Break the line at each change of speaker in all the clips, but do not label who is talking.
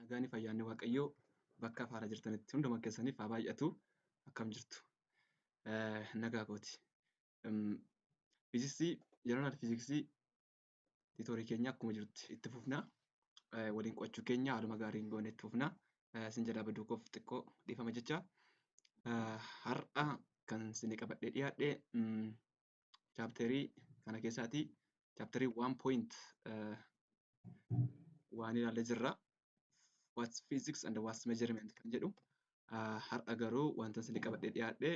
Nagaanii fayyaanni Waaqayyoo bakka afaara jirtanitti hunduma keessaniif haa baay'atu. Akkam jirtu? Nagaa kooti. Fiiziksii, jeneraal fiiziksii tiitoorii keenya akkuma jirutti itti fufna. Waliin qo'achuu keenya haaluma gaariin goone itti fufna. Sin jalaa baduu koof xiqqoo dhiifama jecha. Har'a kan isin qabadhee dhiyaadhe chaapterii kana keessaatii chaapterii waan point waan ilaalle jirra. What's physics and what's measurement kan jedhu har'a garuu wanta isin qabadhee dhiyaadhe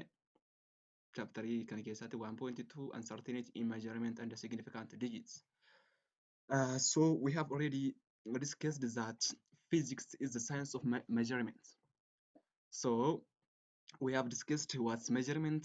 chaapterii kana keessaatii waan point two uncertainty in measurement and significant digits. Uh, so we have already discussed that physics is the science of me measurement. So we have discussed what's measurement,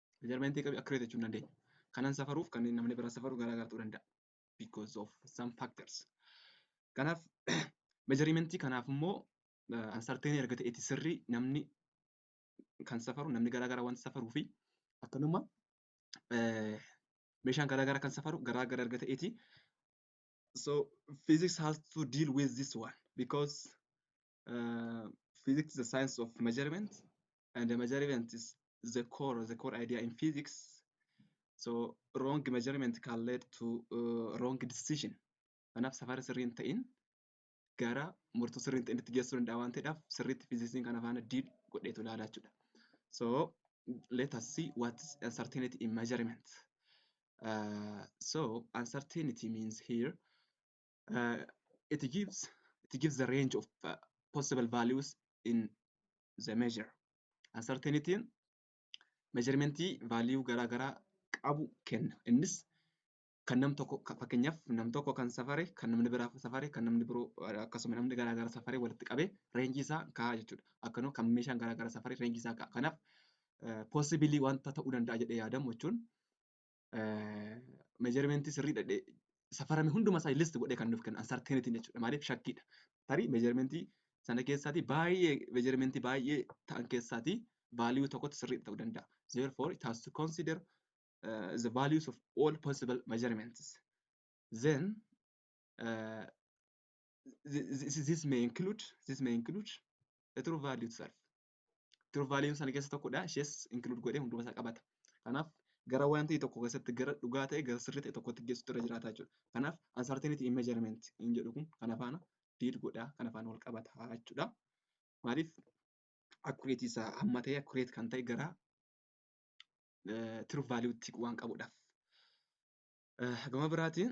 measurement qabi accurate jechuun dandeenya. Kanan safaruuf kan namni biraa safaru garaagar ta'uu danda'a. Because of some factors. Kanaaf measurement kanaaf immoo uncertain erga ta'eeti sirrii namni kan safaru namni garaagaraa waan safaruu fi akkanuma meeshaan garaagaraa kan safaru garaagara erga ta'eeti. So physics has to deal with this one because uh, physics is the science of measurement and the measurement is the core the core idea in physics so wrong measurement can lead to uh, wrong decision kanaaf safara sirriin ta'in gara murtoo sirriin ta'in itti geessuu danda'a waan ta'eedhaaf sirriitti fiiziksiin kana faana diil godheetu ilaalaa jechuudha so let us see what is uncertainty in measurement uh, so uncertainty means here uh, it gives it gives the range of uh, possible values in the measure uncertainty measurement value garaa garaa qabu kenna innis kan nam tokko ka- fakkeenyaaf nam tokko kan safare kan namni biraa safare kan namni biroo eh, akkasuma namni garaa garaa safare walitti qabee reenjii isaa kaa'aa jechuudha akkanuma kan meeshaan garaa garaa safare reenjii isaa kaa'a kanaaf possibilii wanta ta'uu danda'a jedhee yaadamu jechuun meejarmentii sirriidha jedhee safarame hunduma isaa list godhee kan nuuf kennu uncertainty jechuudha. Maaliif shakkiidha. Tarii meejarmentii sana keessaatii baay'ee meejarmentii baay'ee ta'an keessaatii value tokkotti sirriidha ta'uu danda'a. Therefore it has to consider uh, the values of all possible measurements. Then uh, this, this may include this may include the true value itself. true value sana keessa tokkodha ishees include godhee hunduma isaa qabata kanaaf gara waan ta'e tokko keessatti gara dhugaa ta'e gara sirrii ta'e tokkotti geessuutu irra jiraata jechuudha kanaaf uncertainty in measurement hin jedhu kun kana faana diid godha kana faana wal qabata jechuudha maaliif accurate isaa hamma ta'e accurate kan ta'e gara true value tti waan qabudhaaf gama biraatiin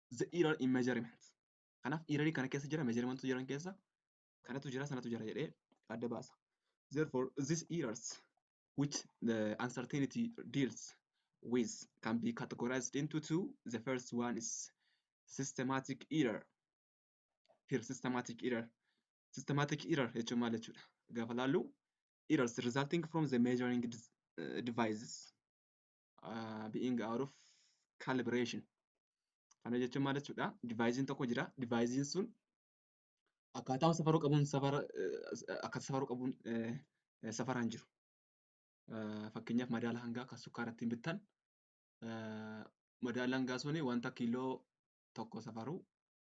the error in measurement. Kanaaf error kana keessa jira measurement jiran keessa kanatu jira sanatu jira jedhee adda baasa. Therefore these errors which the uncertainty deals with can be categorized into two. The first one is systematic error. Here systematic error. Systematic error jechuun maal jechuudha? Gaafa laallu errors resulting from the measuring devices being out of calibration. Kana jechuun maal jechuudha? Divaayiziin tokko jira. Divaayiziin sun akkaataa safaruu qabuun safara akka safaruu qabuun safaraan jiru. Fakkeenyaaf madaala hangaa kan sukkaara ittiin bittan madaala hangaa suni wanta kiiloo tokko safaruu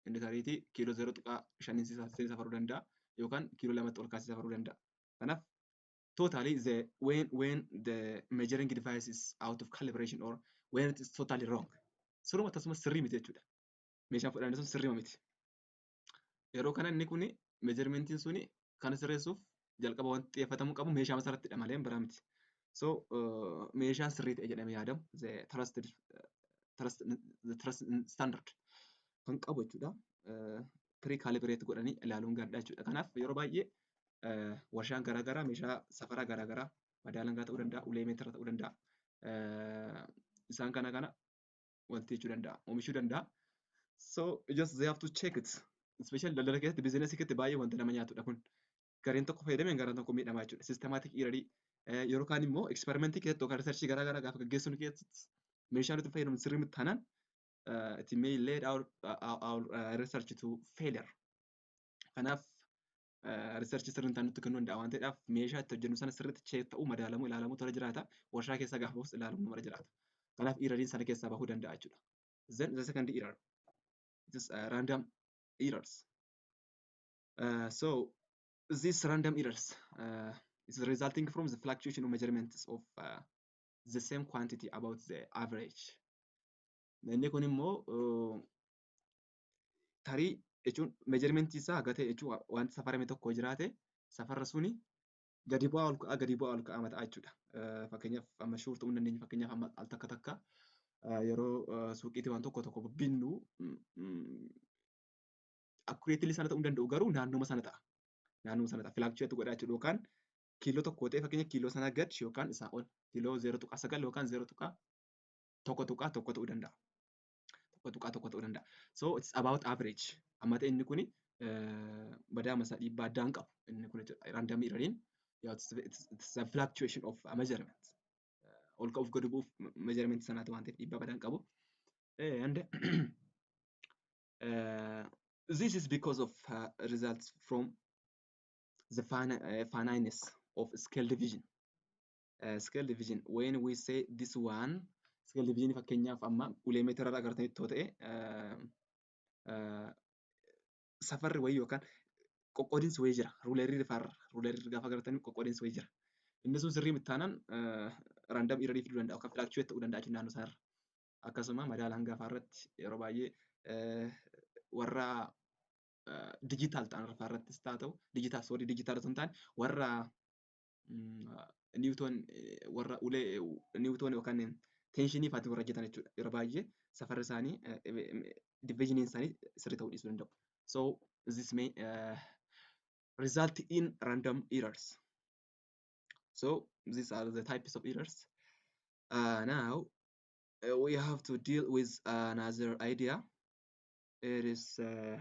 inni tariitii kiiloo zero tuqaa shaniin safaruu danda'a yookaan kiiloo lamatti ol kaasee safaruu danda'a. Kanaaf totally the when when the measuring device is out of calibration or when it is totally wrong siruma tasuma sirrii miti jechuudha meeshaan fudhanne sun sirrima miti yeroo kana inni kun measuremeentiin suni kan sirreessuuf jalqaba wanti xiyyeeffatamu qabu meeshaa masarrattidha malee biraa miti so uh, meeshaan sirrii ta'e jedhamee yaadamu the trusted uh, trust, the trust standard kan qabu jechuudha uh, pre-calibrate godhanii ilaaluun gaariidha jechuudha kanaaf yeroo baay'ee warshaan garaagaraa meeshaa safaraa garaagaraa madaalangaa ta'uu danda'a, ulee meetira ta'uu danda'a. Isaan kana kana wanti jechuu danda'a, oomishuu danda'a. So just they have to check it. Especially daldala keessatti biizinasii keessatti baay'ee wanta nama nyaatudha kun. Gareen tokko fayyadameen gareen tokko miidhamaa jechuudha. Sistemaatik iirarii yeroo kaan immoo eksperimentii keessatti yookaan riisarchii garaa garaa gaafa gaggeessuun keessatti meeshaan itti fayyadamu sirrii miti taanaan it may lead our, our, our uh, research to failure. Kanaaf riisarchii sirriin ta'an nutti kennuu danda'a waan ta'eedhaaf meeshaa itti hojjennu sana sirriitti cheek ta'uu madaalamuu ilaalamuu tola jiraata warshaa keessaa gaafa bahus ilaalamuu mara jiraata kanaaf irariin sana keessaa bahuu danda'a jechuudha then the second error it is uh, random errors uh, so these random errors uh, is resulting from the fluctuation of measurements of uh, the same quantity about the average. Inni kun immoo tarii jechuun meejarmentii isaa haga ta'e jechuun wanti safarame tokko jiraate safarra suni gadi bu'aa ol ka'aa gadi bu'aa ol ka'aa mata'a jechuudha. Fakkeenyaaf amma shuur ta'uu hin dandeenye fakkeenyaaf amma al takka takka yeroo suuqiitti waan tokko tokko binnu akkureetilii sana ta'uu hin danda'u garuu naannuma sana ta'a. Naannuma sana ta'a filaakchuweetti godhaa jechuudha yookaan kiiloo tokko ta'e fakkeenya kiiloo sana gad yookaan isaa ol kiiloo 0.9 yookaan 0.1 tuqaa tokko ta'uu danda'a. tokko tuqaa tokko ta'uu danda'a. So it's about average. Amma ta'e inni kuni badaa masa dhiibbaa addaa hin qabu. Inni kun random irraniin it's a fluctuation of a measurement. Ol ka'uuf gadi bu'uuf measurement sanaati waan ta'eef dhiibbaa badaa hin qabu. And uh, this is because of uh, results from the fina- uh, finiteness of scale division. scale division when we say this one scale division fakkeenyaaf amma ulee meetira irraa agartanitti yoo ta'e safarri wayii yookaan qoqqoodinsi wayii jira ruulerii rifaarra ruulerii gaafa agartanii qoqqoodinsi wayii jira inni sun sirrii miti taanaan raandam irratti fiduu danda'a yookaan filaakchuweet ta'uu danda'a jechuudha naannoo isaarra akkasuma madaala hangafaa irratti yeroo baay'ee warra dijitaal ta'an irratti haa ta'u dijitaal soorii dijitaal osoo hin taane warra Niwutoon warra ulee Niwutoon yookaan teenshinii faatiin warra hojjetan jechuudha. Yeroo baay'ee safarri isaanii diviizhiniin isaanii sirrii ta'uu dhiisuu danda'u. So this may uh, result in random errors. So these are the types of errors. Uh, now uh, we have to deal with another idea. It is uh,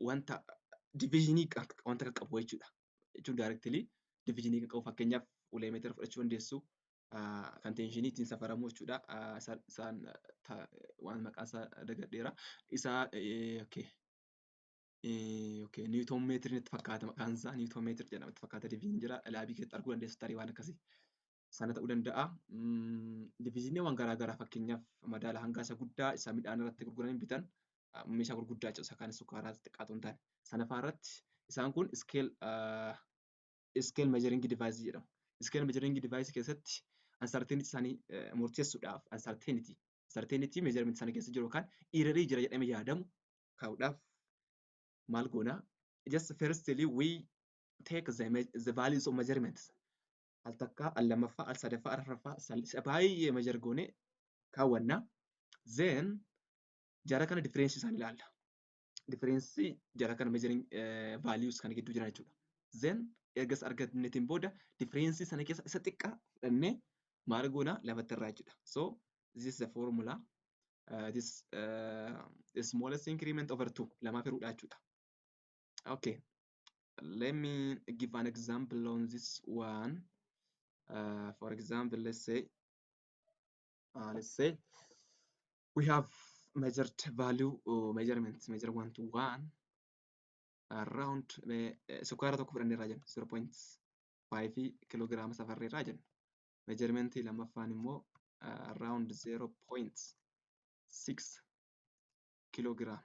wanta diviizhinii wanta kan qabu jechuudha. Jechuun daayirektilii diviizhinii kan qabu fakkeenyaaf ulee meetira fudhachuu dandeessu kan teenshinii ittiin safaramu jechuudha. Isaan waan maqaa isaa dagadheera. Isaa niwutoon meetiriin itti fakkaata maqaan isaa niwutoon meetiri jedhama itti fakkaata diviizhinii jira. Laabii keessatti arguu dandeessu tarii waan akkasii. sana ta'uu danda'a. Diviiziniiwwan garaagaraa fakkeenyaaf madaala hangaa isa guddaa isa midhaan irratti gurguranii bitan meeshaa gurguddaa jechuudha. Isa kaan sukkaaraa xiqqaa ta'uu hin taane. Sana fa'aa irratti isaan kun iskeel iskeel meejaringi divaayisii jedhamu. Iskeel meejaringi divaayisii keessatti ansarteeniti isaanii murteessuudhaaf ansarteeniti ansarteeniti meejarimenti sana keessa jiru yookaan iirarii jira jedhamee yaadamu kaa'uudhaaf maal goona? Just firstly we take the, the values of measurements. al takkaa al lamaffaa al sadaffaa al afraffaa sal- sa- baay'ee measure goone kaawwanna then jara kana difference isaan ilaalla difference jara kana measuring eh, values kana gidduu jiran jechuudha then ergas argannetiin booda difference sana keessa isa xiqqaa fudhannee maal goona lamatti irraa jechuudha so this is the formula uh, this uh, smallest increment over 2 lamaa firuudha jechuudha okay let me give an example on this one. Uh, for example, let's say, uh, let's say we have measured value or measurement, measure one to one around eh, eh, sukkaara tokko fudhannee irraa jenna 0.5 kiloogiraama safarree irraa jenna. Measurement lammaffaan immoo uh, around 0.6 kiloogiraama.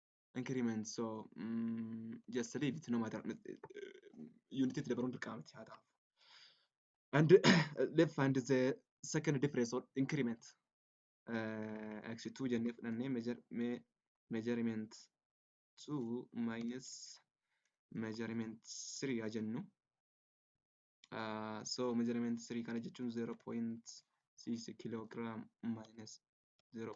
increment so mm, just leave it no matter unit itti dabaluun dirqama miti haa ta'u and let's find the second difference or increment uh, actually 2 jennee fudhannee measure, me, measurement 2 minus measurement 3 haa jennu uh, so measurement 3 kana jechuun 0.6 kilogram minus 0.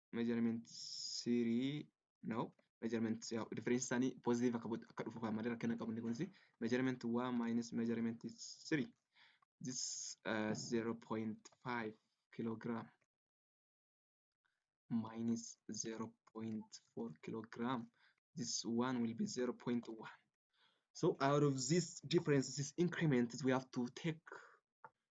measurement three now measurement yaa'u difference isaanii positive akka godhu akka dhufu kan malee rakkina qabu inni kunis measurement one minus measurement three this uh, 0.5 kilogram minus 0.4 kilogram this one will be 0.1 so out of this differences increments we have to take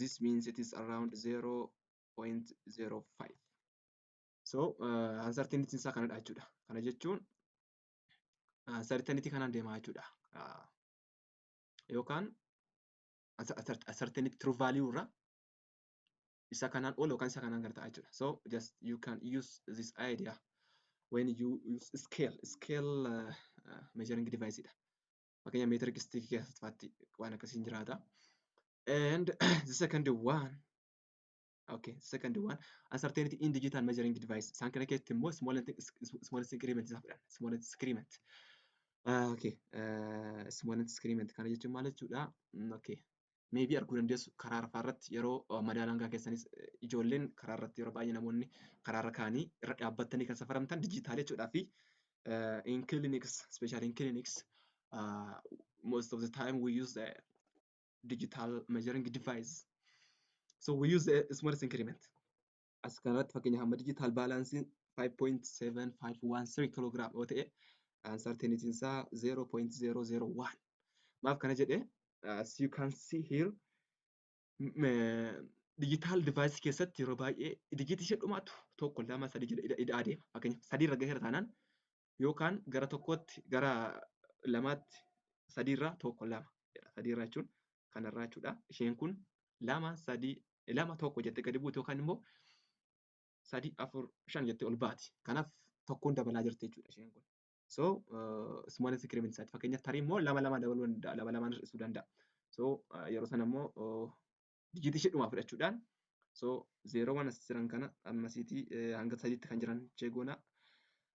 this means it is around 0.05 so uh, uncertainty isaa kanadha jechuudha kana jechuun uh, certainty kanaan deemaa jechuudha uh, yookaan uncertainty true value irra isa kanaan ol yookaan isa kanaan gad ta'a jechuudha so just you can use this idea when you use scale scale uh, uh, measuring device dha fakkeenya meetira gistiikii keessatti faatti waan akkasiin jiraata. And the second one Okay, the second one, uncertainty in digital measuring device. Isaan kana keessatti immoo small and small increment isaa fudhanna. Small and increment. Uh, okay, uh, small and increment kana jechuun maal jechuudha? Okay, maybe arguu dandeessu karaa rafaa irratti yeroo madaala hangaa keessanis ijoolleen karaa irratti yeroo baay'ee namoonni karaa irra kaanii irra dhaabbattanii kan safaramtan dijitaalee jechuudhaa fi in clinics especially in clinics uh, most of the time we use the digital measuring device so we use the smallest increment as kanarratti fakkeenyaaf amma digital balance 5.7513 kiloogiraam yoo ta'e uncertainty isaa 0.001 maaf kana jedhe as you can see here digital device keessatti yeroo baay'ee digitii ishee dhumaatu tokko lama sadii jedha ida'aa deema fakkeenyaaf sadii irra gaheera taanaan yookaan gara tokkootti gara lamaatti sadiirraa tokko lama jedha sadiirraa jechuun kanarraa jechuudha isheen kun lama sadii lama tokko jettee gadi buuti yookaan immoo sadii afur shan jettee ol baati kanaaf tokkoon dabalaa jirti jechuudha isheen kun so small increment isaati fakkeenyaaf tarii immoo lama lama dabaluu danda'a lama lamaan hir'isuu danda'a so yeroo sana immoo dijiitii ishee dhumaa fudhachuudhaan so zeeroowwan as jiran kana ammasiitii hanga sadiitti kan jiran chee goona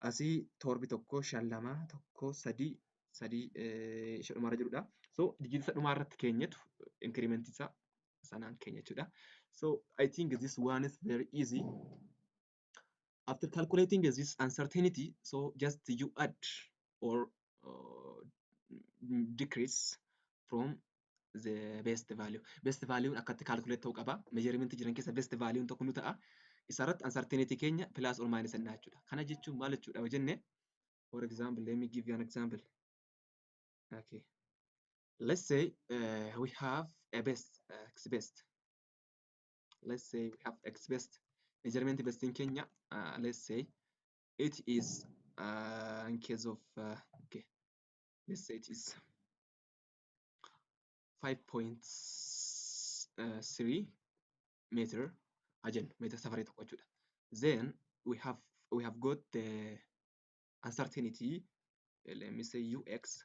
asii torbi tokko shan lama tokko sadii sadii ishee dhumaarra jirudha so dijiitisa dhumaa irratti keenyatu inkirimentii isaa sanaan keenya jechuudha so I think this one is very easy After calculating this uncertainty, so just you add or uh, decrease from the best value. Best value akkatti calculate ta'uu qaba. Measurement jiran keessa best value tokko nu ta'a. Isarratti uncertainty keenya plus or minus innaa jechuudha. Kana jechuun maal jechuudha yoo jenne? For example, let me give you an example. Okay. Let's say uh, we have a best, uh, best. let's say we have x best measurement best in Kenya uh, let's say it is uh, in case of uh, okay let's say it is 5.3 meter ajen meter safari tokko jechuudha then we have we have got the uncertainty let me say ux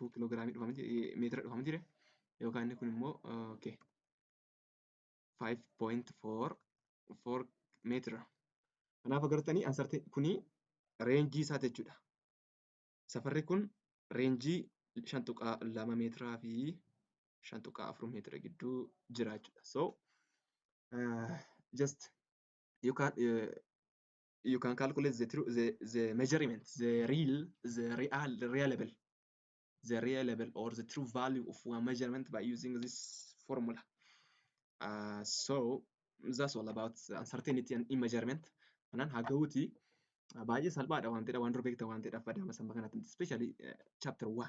2 kiloogiraamii dhufama meetira dhufama jire yookaan inni kun immoo okay 5.4 4 meetira kanaaf agartanii ansarti kuni reenjii isaa jechuudha safarri kun reenjii 5.2 meetiraa fi 5.4 meetira gidduu jira jechuudha so uh, just you can uh, you can calculate the true the, the measurement the real the real reliable the reliable or the true value of one measurement by using this formula uh, so that's all about uncertainty and immeasurement kanan hagawuti baay'ee salphaadha waan ta'edha waan dura beekta waan ta'edha fadaama samba kanatti especially uh, chapter 1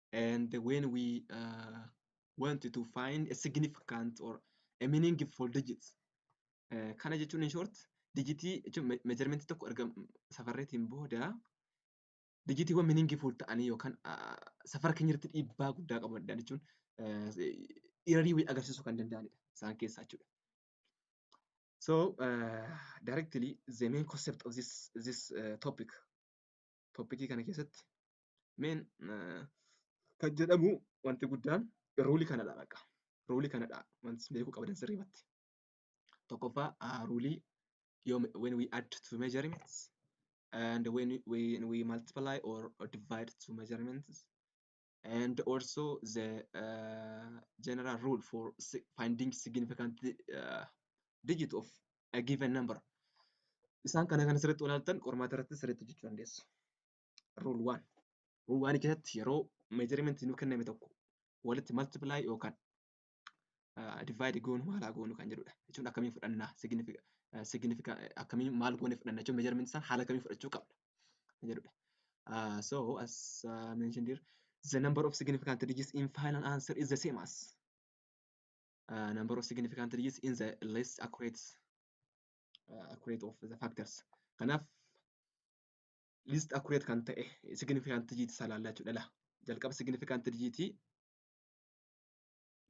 and when we uh, want to find a significant or a meaningful digits uh, kana jechuun in short digitii jechuun me- measurement tokko erga m- safarreetiin booda digitiiwwan meaningful ta'anii yookaan uh, safara keenya irratti dhiibbaa guddaa qabu danda'an jechuun uh, irrii wayii agarsiisuu kan danda'anidha isaan keessaa jechuudha. So uh, directly the main concept of this this uh, topic toppikii kana keessatti meen kan jedhamu wanti guddaan ruulii kanadha bakka. Ruulii kanadha wanti beekuu qabadan sirriimatti. Tokkoffaa ruulii yoom when we add two measurements and when we, when we multiply or divide two measurements and also the uh, general rule for si- finding significant uh, digit of a given number. Isaan kana kan sirriitti ilaaltan qormaata irratti sirriitti jechuu dandeessu. Rule 1. Rule 1 keessatti yeroo measurement nu kenname tokko walitti multiply yookaan divide goonu maalaa goonu kan jedhudha. Jechuun akkamiin fudhannaa significant akkamiin maal goone fudhanna jechuun measurement isaan haala kamiin fudhachuu qabna kan jedhudha. Uh, so as uh, mentioned here, the number of significant digits in final answer is the same as uh, number of significant digits in the less accurate uh, accurate of the factors. Kanaaf least accurate kan ta'e significant digit isaa laallaa jechuudha. Jalqaba significant digit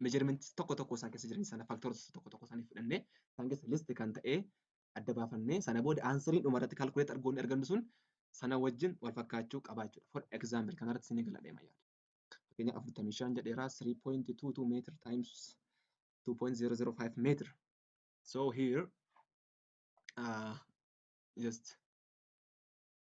measurements tokko tokko isaan keessa jiran sana factors tokko tokko isaanii fudhannee isaan keessa list kan ta'e adda baafannee sana booda aansariin dhuma irratti calculate argoonni argannu sun sana wajjin wal fakkaachuu qaba jechuudha. For example kana irratti isinii gala deema yaada. Fakkeenyaaf afurtamii shan jedheera 3.22 meter times 2.005 meter. So here uh, just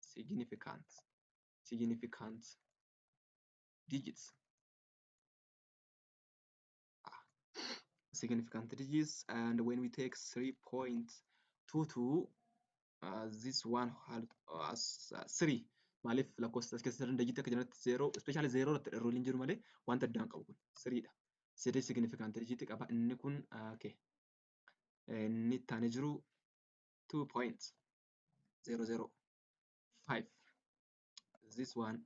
significant significant digits significant digits and when we take 3.22 uh, this one had uh, as uh, 3 maaliif lakkoofsa as keessa digit akka jirutti 0 especially 0 irratti dharruun hin jiru malee wanta addaan qabu kun 3 dha 3 significant digit qaba inni kun uh, okay inni itti aanee jiru 2 points 005 this one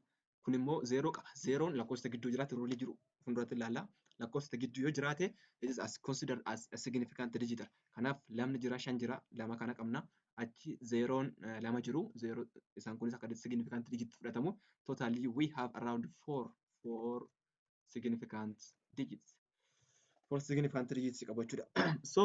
kun immoo 0 qaba 0 lakkoofsa gidduu jiraate roolii jiru fuulduratti ilaalla lakkoofsa gidduu yoo jiraate it is as considered as a significant digit kanaaf lamni jira shan jira lama kana qabna achi zeeroon lama jiru zeeroo isaan kunis akka significant digit fudhatamu totally we have around four four significant digits four significant digits qabachuudha so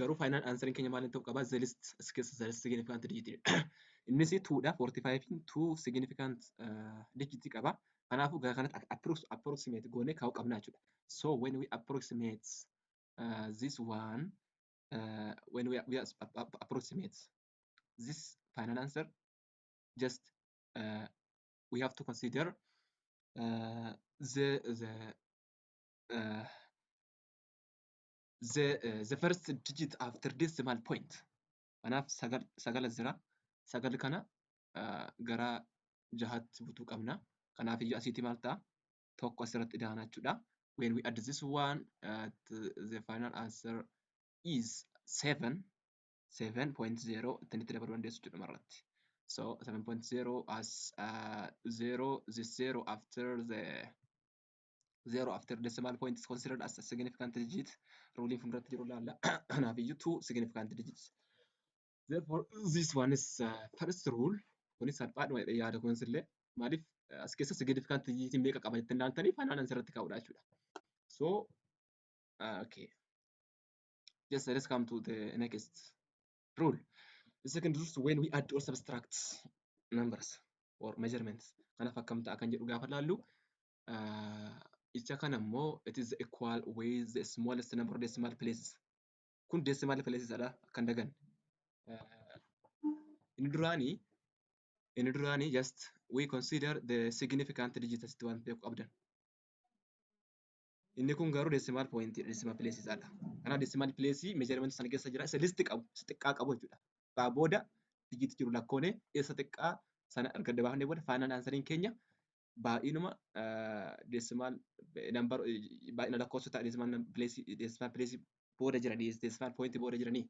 garuu final answer keenya maal ta'uu qaba the least skills the least significant digit innis 2 dha 45 in 2 significant uh, digit qaba kanaafuu gara kanatti approx approximate goone kaa'uu qabna jechuudha so when we approximate uh, this one uh, when we, we approximate this final answer just uh, we have to consider uh, the the uh, the, uh, the first digit after decimal point. Kanaaf sagal, sagala jira. Sagal kana uh, gara jahatti butuu qabna. Kanaaf iyyuu asiitti maal ta'a? Tokko asirratti idaana jechuudha. When we add this one, uh, the final answer is 7. 7.0 ittiin itti dabaluu dandeessu jechuudha irratti. So 7.0 as uh, 0, this 0 after the zero after decimal point is considered as a significant digit ruuliin fuulduratti jiru laalla kanaaf iyyuu two significant digits therefore this one is uh, first rule kunis salphaadhuma jedhee yaada kunis illee maaliif uh, as keessa significant digit meeqa qaba jettanii ilaaltaniif anaan asirratti kaa'uudha jechuudha so uh, okay just let's come to the next rule the second rule is when we add or subtract numbers or measurements kanaaf akkam ta'a kan jedhu gaafa laallu Isa kana immoo it is equal with the smallest number of decimal places. Kun decimal places dha akka hin daganne. Inni duraanii inni duraanii just we consider the significant digit asitti waan ta'eef qabdan. Inni kun garuu decimal point decimal places dha. Kanaaf decimal place measurement sana keessa jira isa list qabu isa xiqqaa qabu jechuudha. Xiqqaa booda digit jiru lakkoone isa xiqqaa sana erga dabaafnee booda final answering keenya baay'inuma decimal number baay'ina lakkoofsota decimal place decimal place booda jiran decimal point booda jiranii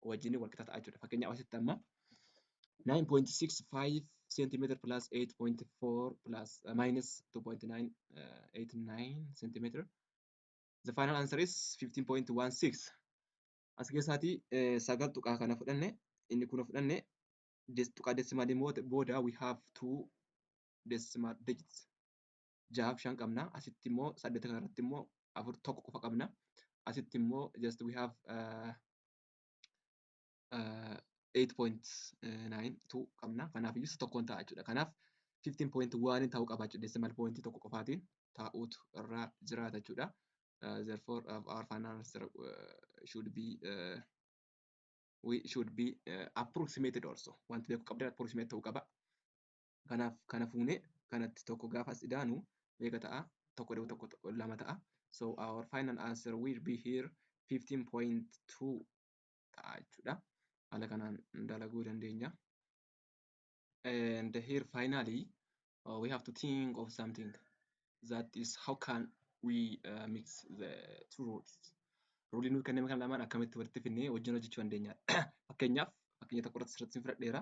wajjin wal qixa ta'a jechuudha. Fakkeenyaaf asitti amma 9.65 cm plus 8.4 plus uh, minus 2.989 cm. The final answer is 15.16. As keessaatii eh, sagal tuqaa kana fudhanne inni kun fudhanne des- tuqaa decimal booda we have two decimal digits ja'aaf shan qabna asitti immoo saddeet kana irratti immoo afur tokko qofa qabna asitti immoo just we have uh, uh, 8.92 qabna kanaaf iyyuu isa tokkoon ta'a jechuudha kanaaf 15.1 ta'uu qaba jechuudha decimal point tokko qofaatiin taa'uutu irraa jiraata jechuudha uh, therefore uh, our final answer uh, should be uh, we should be uh, approximated also wanti beeku qabdan approximate ta'uu qaba kanaaf kana fuune kanatti tokko gaafa as idaanu meeqa ta'a tokko da'u tokko tokko lama ta'a so our final answer will be here 15.2 ta'a jechuudha haala kanaan dalaguu dandeenya and here finally uh, we have to think of something that is how can we uh, mix the two rules ruulii nuuf kenname kan lamaan akkamitti walitti finnee wajjin hojjechuu dandeenya fakkeenyaaf fakkeenya tokko irratti sirratti fudhadheera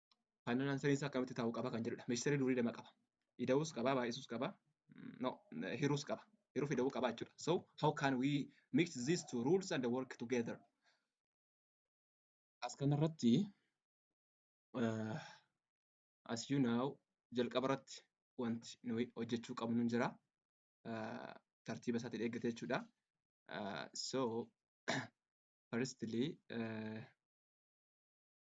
Faayinal ansariin isaa akkamitti ta'uu qaba kan jedhudha. Misteerii durii lama qaba. Ida'uus qaba, baay'isuus qaba, no, hiruus qaba. Hiruu fi ida'uu qaba jechuudha. So how can we mix these two rules and work together? As kanarratti uh, as you know jalqaba irratti wanti nuyi hojjechuu qabnu jira. Uh, tartiiba isaatiin eeggate jechuudha. Uh, so firstly uh,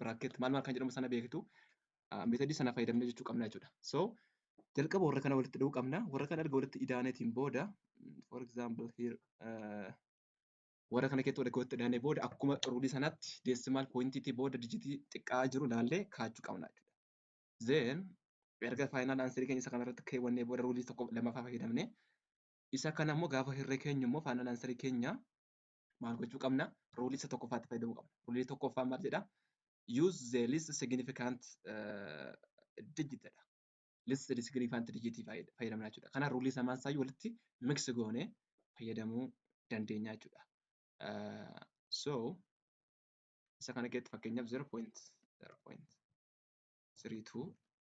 bracket maal maal kan jedhamu sana beektu metadii sana fayyadamne jechuu qabna jechuudha. So jalqaba warra kana walitti dhuu qabna. Warra kana erga walitti idaaneetiin booda for example here uh, warra kana keessatti erga walitti idaanee booda akkuma ruulii sanatti decimal pointiitii booda dijitii xiqqaa jiru ilaallee kaachuu qabna jechuudha. Then erga faayinaal aansarii keenya isa kanarratti keewwannee booda ruulii tokko lamaffaa fayyadamne isa kana immoo gaafa hirree keenya immoo faayinaal aansarii keenya maal gochuu qabna? Ruulii isa tokkoffaatti fayyadamuu qabna. Ruulii tokkoffaa maal jedha? Use the least significant uh, digit jedha. Least significant digit fayyadamna jechuudha. Kana ruulii samaan isaa walitti mix goone fayyadamuu dandeenya jechuudha. Uh, so isa kana keessatti fakkeenyaaf 0.0.32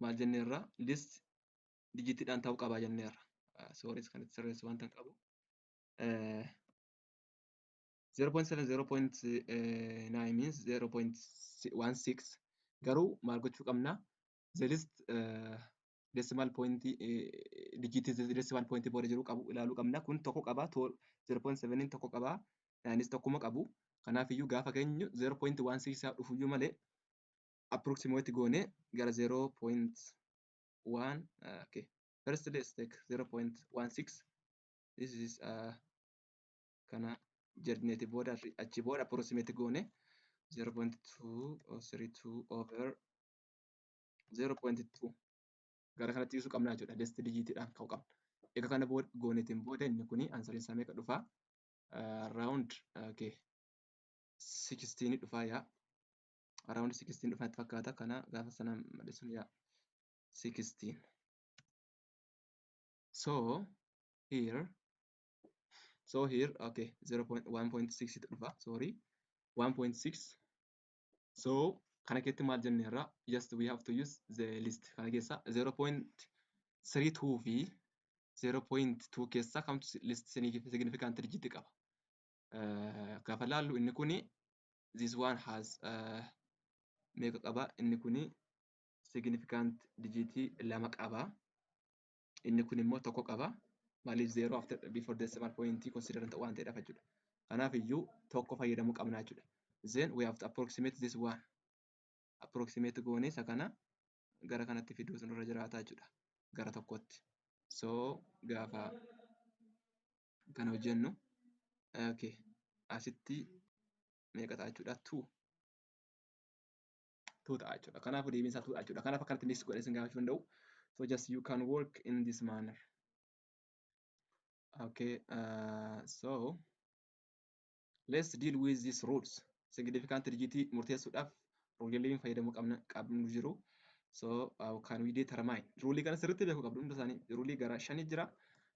maal jenneerra list dijitiidhaan ta'uu qaba jenneerra. Sooris kan itti sirreessu wanta hin qabu. 0.7 0.9 means 0.16 garuu maal gochuu qabna the list uh, decimal point uh, digit decimal point booda jiru qabu ilaaluu qabna kun tokko qaba 0.7 tokko qaba 9 tokkuma qabu kanaaf iyyuu gaafa keenyu 0.16 isaa dhufuyyuu malee approximate goone gara 0.1 uh, okay first let's take 0.16 this is uh, kana jedhneeti booda achi booda approximate goone 0.232 over 0.2 gara kanatti ibsu qabna jechuudha dest digitiidhaan ka'u qabna egaa kana booda gooneetiin booda inni kuni ansariin isaa meeqa dhufaa round okay 16 dhufaa yaa around 16 dhufatti fakkaata kana gaafa sana madhisuun yaa 16 so here so here okay 0.1.6 dhufa sorry 1.6 so kana keessatti maal jenne irraa just we have to use the list kana keessa 0.32 fi 0.2 keessa kamtu list significant digit qaba eh, gaafa laallu inni kuni this one has eh, meeqa qaba inni kuni significant dijiitii lama qaba inni kun immoo tokko qaba maaliif zero after before decimal point consider ta'u waan ta'eedhaaf jechuudha kanaaf iyyuu tokko fayyadamuu qabna jechuudha then we have to approximate this one approximate goonee isa kana gara kanatti fiduu sun irra jiraataa jechuudha gara tokkotti so gaafa kan hojjennu okay. asitti meeqa ta'a jechuudha tuu tuu ta'a jechuudha kanaafuu deebiin isaa tuu ta'a jechuudha kanaaf akkanatti mix godhee isin gaafachuu danda'u so just you can work in this manner okay uh, so Let's deal with these rules. Significant digitii murteessuudhaaf ruuliileen fayyadamuu qabna qabnu jiru. So how can we determine? Ruulii kana sirriitti beekuu qabdu hunda isaanii. Ruulii gara shanii jira.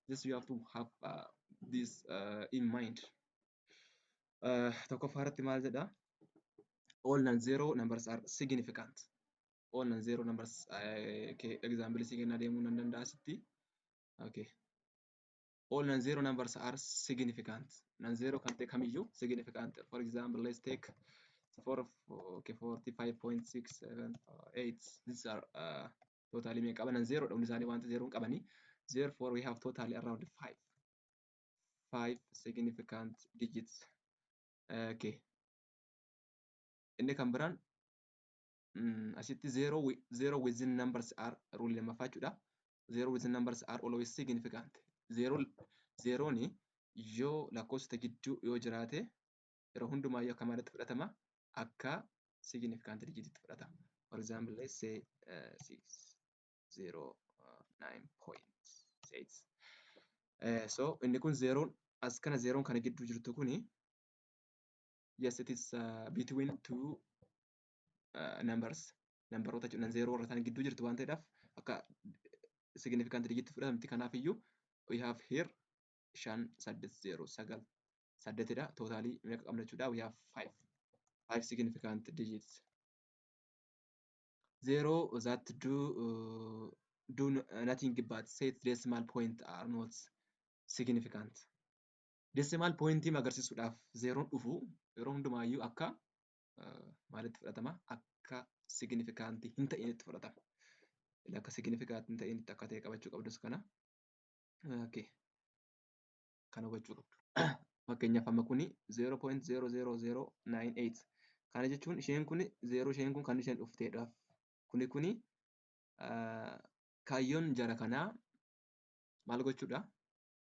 Just you have to have uh, this uh, in mind. Uh, tokkoffaa irratti maal jedha? All non-zero numbers are significant. All non-zero numbers uh, okay, example si kennaa deemuu nan danda'a sitti. Okay. all non-zero numbers are significant. Non-zero kan ta'e kamiyyuu significant. For example, let's take for okay, 45.678. These are uh, totally meeqa qaban zero dha hundi isaanii wanta zero hin qabani. Therefore, we have totally around five. Five significant digits. Uh, okay. Inni kan biraan mm, asitti zero, wi- zero within numbers are rule lammaffaa jechuudha. zero with numbers are always significant zero zerooni yoo lakkoofsota gidduu yoo jiraate yeroo hundumaa yoo akka maalitti fudhatama akka significant digititti fudhatama for example let's say uh, 609.6 uh, so inni kun zeroon as kana zeroon kana gidduu jirtu kuni yes it is uh, between two numbers nambaroota jechuun zeeroo warra isaanii gidduu jirtu waan ta'eedhaaf akka significant digit fudhatamti kanaaf iyyuu we have here shan saddeet zeeroo sagal saddeetidha tootaalii meeqa qabna jechuudha we have five five significant digits zeeroo that do uh, do nothing but set decimal point are not significant decimal pointii agarsiisuudhaaf zeeroon dhufu yeroo hundumaayyuu akka maalitti fudhatama? Akka signifikantii hin ta'initti fudhatama. Akka signifikantii hin ta'initti akka ta'e qabachuu qabdus kana. Okay. Kan hubachuu qabdu. Fakkeenyaaf amma kuni 0.00098. Kana jechuun isheen kun 0 isheen kun kan isheen dhufteedhaaf. Kuni kuni kaayyoon jara kanaa maal gochuudha?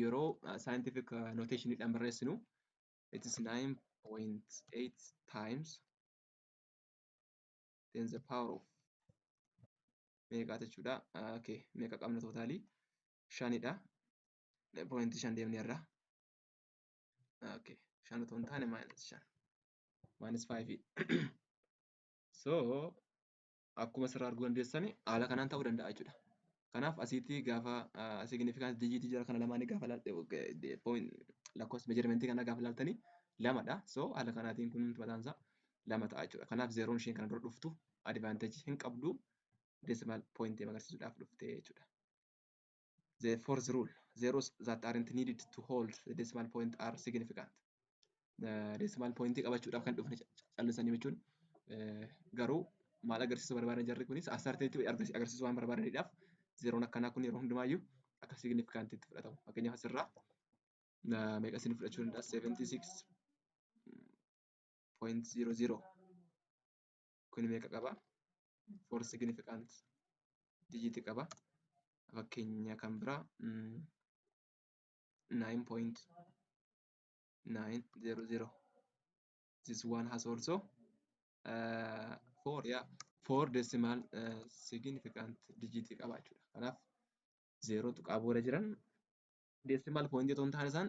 yeroo scientific notation dhaan barreessinu it is 9.8 times 10 the power of meeqaa jechuudha okay meeqa qabna tootaalii shanidha pointi shan deemne irraa okay shan otoo hin taane minus shan minus five so akkuma asirraa arguu dandeessan haala kanaan ta'uu danda'a jechuudha. Kanaaf asiitti gaafa significance digit jira kana lamaanii gaafa lakkoofsa measurement kana gaafa ilaaltanii lamadha. So haala kanaatiin kun mataan isaa lama ta'a jechuudha. Kanaaf zeeroon isheen kana dura dhuftu advantage hin qabdu decimal point agarsiisuudhaaf dhuftee jechuudha. the fourth rule zeros that aren't needed to hold the decimal point are significant decimal point qabachuudhaaf kan dhufne callisanii jechuun garuu maal agarsiisu barbaadan jarri kunis asarteetti agarsiisu waan barbaadaniidhaaf zeroon akkanaa kun yeroo hundumaayyuu akka significant itti fudhatamu fakkeenyaaf asirraa meeqa isin fudhachuu danda'a 76 point zero zero kun meeqa qaba for significant digit qaba fakkeenya kan biraa 9.900 this one has also uh, four yeah four decimal uh, significant digit qaba jechuudha kanaaf zeeroo tuqaa booda jiran decimal point otoo hin taane isaan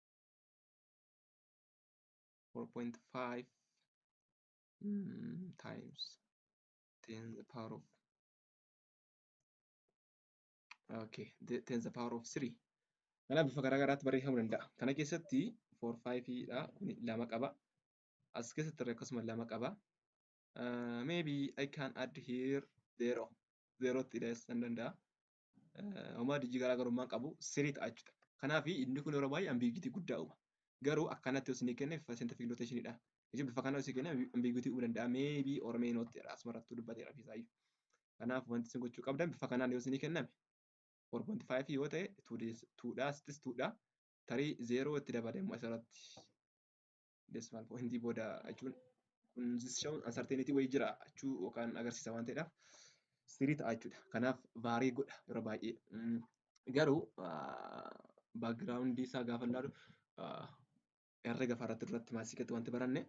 four point five mm, times ten the power of okay the, ten the power of three kanaaf bifa garaa garaatti barreeffamuu danda'a kana keessatti four five dha kuni lama qaba as keessatti irra akkasuma lama qaba uh, maybe I can add here zero zero tti dhiyeessan danda'a homaa dijii garaagarummaa qabu sirii ta'a jechuudha. Kanaaf inni kun yeroo baay'ee ambiguity guddaa uuma. Garuu akkanatti yoo isinii kenne scientific notation dha. Jechuun bifa kana yoo isinii kenne ambiguity uumuu danda'a. Maybe or may not jedha asuma irratti dubbateera ofiisaayyuu. Kanaaf wanti isin gochuu qabdan bifa kanaan yoo isinii kenname 4.5 yoo ta'e 2 dha asittis 2 dha. Tarii 0 itti dabalee immoo asirratti decimal point booda jechuun kun jechuun uncertainty wayii jira jechuu yookaan agarsiisa waan ta'eedhaaf sirii ta'a jechuudha. Kanaaf vaarii godha yeroo baay'ee. Mm, Garuu background isaa gaafa ilaalu ah, herrega faarratti duratti maasikatti wanti baranne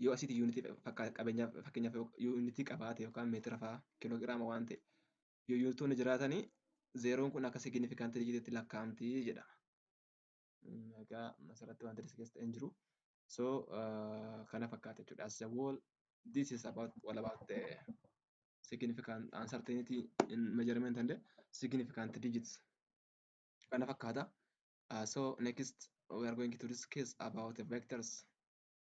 yoo asitti yuunitii fakkaata qabeenyaaf fakkeenyaaf yoo yuunitii qabaate yookaan meetira fa'aa kiloogiraama waan ta'e yoo yuunitoonni jiraatanii zeeroon kun akka signifikantii dijiitiitti lakkaa'amti jedhama. Egaa asirratti wanti discuss ta'e hin jiru. So kana fakkaata jechuudha. As a whole this is about all about the significant uncertainty in measurement and significant digits. Kana fakkaata. Uh, so next we are going to discuss about the vectors.